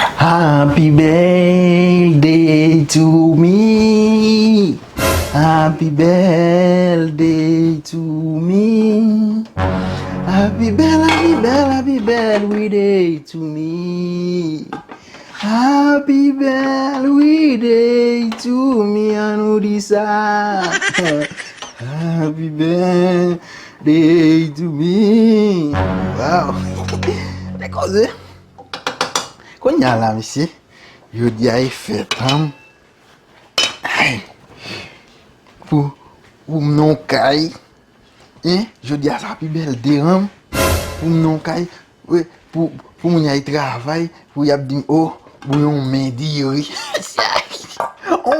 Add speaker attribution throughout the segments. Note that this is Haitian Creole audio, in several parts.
Speaker 1: Happy birthday to me Happy birthday to me Happy bel, happy bel, happy bel we day to me Happy bel we day to me An nou di sa Happy birthday to me Waw Te koze Kounya la mesye, jodi a e fèt humm. Anh. Pou pou m nan yon kay. Hein, jodi a sa pi bèl de humm. Pou m nan yon kay, we pou pou moun ay travay, pou y ap di m oh, pou yon men diri.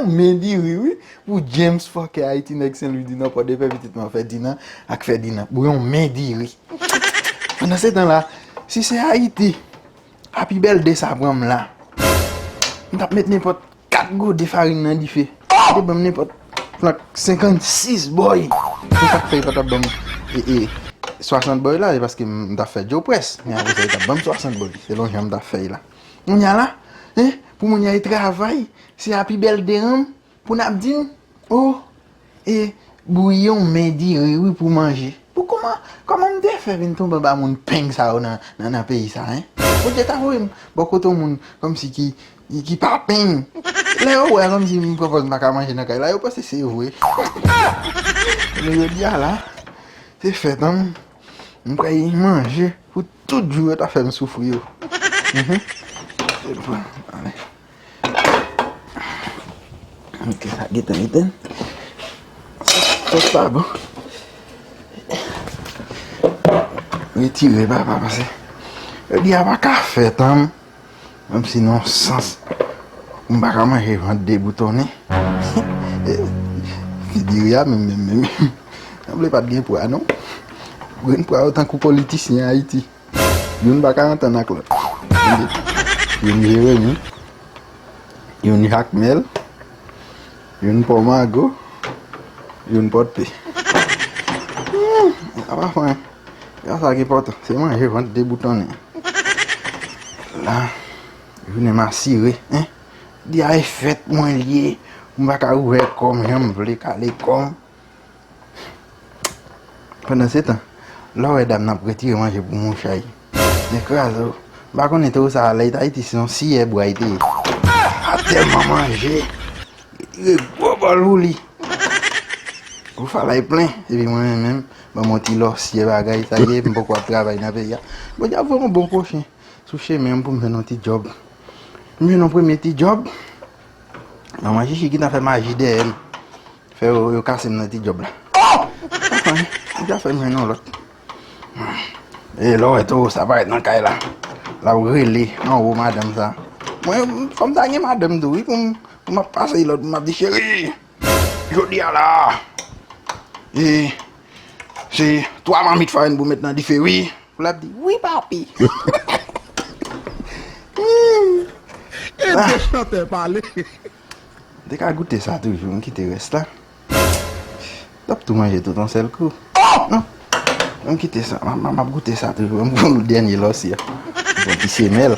Speaker 1: Yon men diri wi. Pou James fòkè Ayiti nèg Senlwidinò, Pòdepè pitit mwen Fèdinan ak Fèdinan. Pou yon men diri. Pandan se tan la, si se Ayiti, a pi bèl de sa pran m la, m t ap met nenpòt 4 gode farin nan dife. Li te ban m nenpòt flank 56 bòy. Se sa k fè li pa t ap ban m 60 bòy la, se paske m t ap fè djo près. Men apre sa, li t ap ban m 60 bòy, selon jan m t ap fè l la. Kounya la, pou moun y al travay, se a pi bèl de an Pou nap dim oh e bouyon men diri wi pou manje bon kòman kòman m te fè vin tonbe anba moun peng sa yo nan nan peyi sa hein Bondye ta voye m bò kote yon moun kòmsi ki ki pa peng lè yo wè kòmsi m pran pòz m paka manje nan kay la yo panse se vre men jodia la se fèt an m pral gen manje pou tout jou yo ta fè m soufri yo. Ok, sa gete meten. Sos la bon. Retire ba pa pase. E bi a baka fet an. Mwen si non sans. Mwen baka manje vant de bouton ni. Ki diri a men men men men. Mwen ble pat gen pou a non. Mwen pou a otan kou politisyen a iti. Youn pa ka antann ak lòt. Youn Jeremi, youn Jakmèl, youn Pò Mago, youn Pòdpe. Sa pa fon an. Se pa sa ki enpòtan. Se manje vant deboutonnen an. La, jounen m asire. Di a e fèt mwen l ye. M pa ka ouvè kò m jan m vle, kale kò m. Pandansetan, lè w wè dam nan ap retire manje pou moun chay, nèk kraze w. M pa konnen te ou sa a lè y t Ayiti se yon siyè bwa y te ye. A tèlman manje, retire gwo bòl pou li. Gwo fala y plen. Epi mwen menm menm, ban m yon ti lòsyè bagay, sa ye, m poko ap travay nan peyi a. Bondye ap voye yon bon pwochen sou chemen m pou m jwenn yon ti djòb. M jwenn yon premye ti djòb, manman chichi ki t nan fè maji dèyè m. Fè yo kase m nan ti djòb la. Oh! Atan, ou ka fè m jwenn yon lòt. E lè w wè towo sa parèt nan kay la, l ap rele anwo madanm sa. Mwen, fò m ta gen madanm tou wi pou m ap pase lòd, pou m ap di, cheri, jodi a la, e, se 3 mamit farin pou met nan dife wi. Pou l ap di, wi papi.
Speaker 2: Ede chantè pale. M te
Speaker 1: ka goute sa toujou m kite rès la. N ap tou manje tout yon sèl kou. Non! An m kite sa. M ap goute sa toujou. M konn ou dènye lòs yo. Bon ti semèl.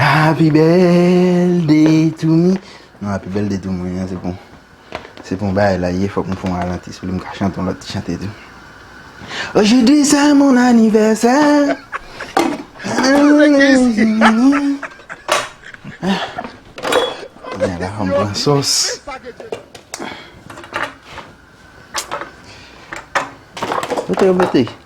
Speaker 1: Happy birthday to me. Non happy birthday to mwen an se bon. Se bon bagay la ye fok m fon ralanti sou li m ka chante yon lot ti chante tou. Ojodi se mon anivèsè. Mwen la fom pran sos. Kote yo mete?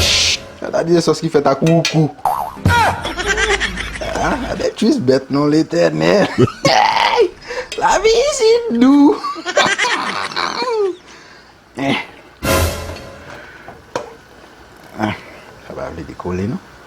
Speaker 1: Chut! Gade yon sòs ki fèt ak woukou. Gade kwis bèt non Letènèl. Hey! Lavi isit dou. Sa pa vle dekole non.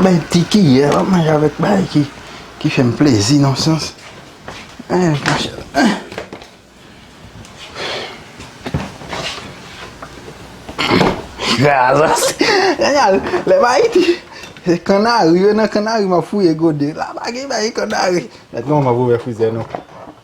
Speaker 1: Bay ti ki yè wap manje avèk bay ki ki fèm plezi nan sans. Lè m ayiti se kannari yo nan kannari m ap fouye gode la pa gen bay kannari. Mèt non m ap ouvè frizè nou.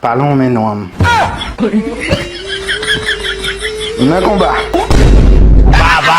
Speaker 1: Pa lonmen non an m. M nan konba. Baba.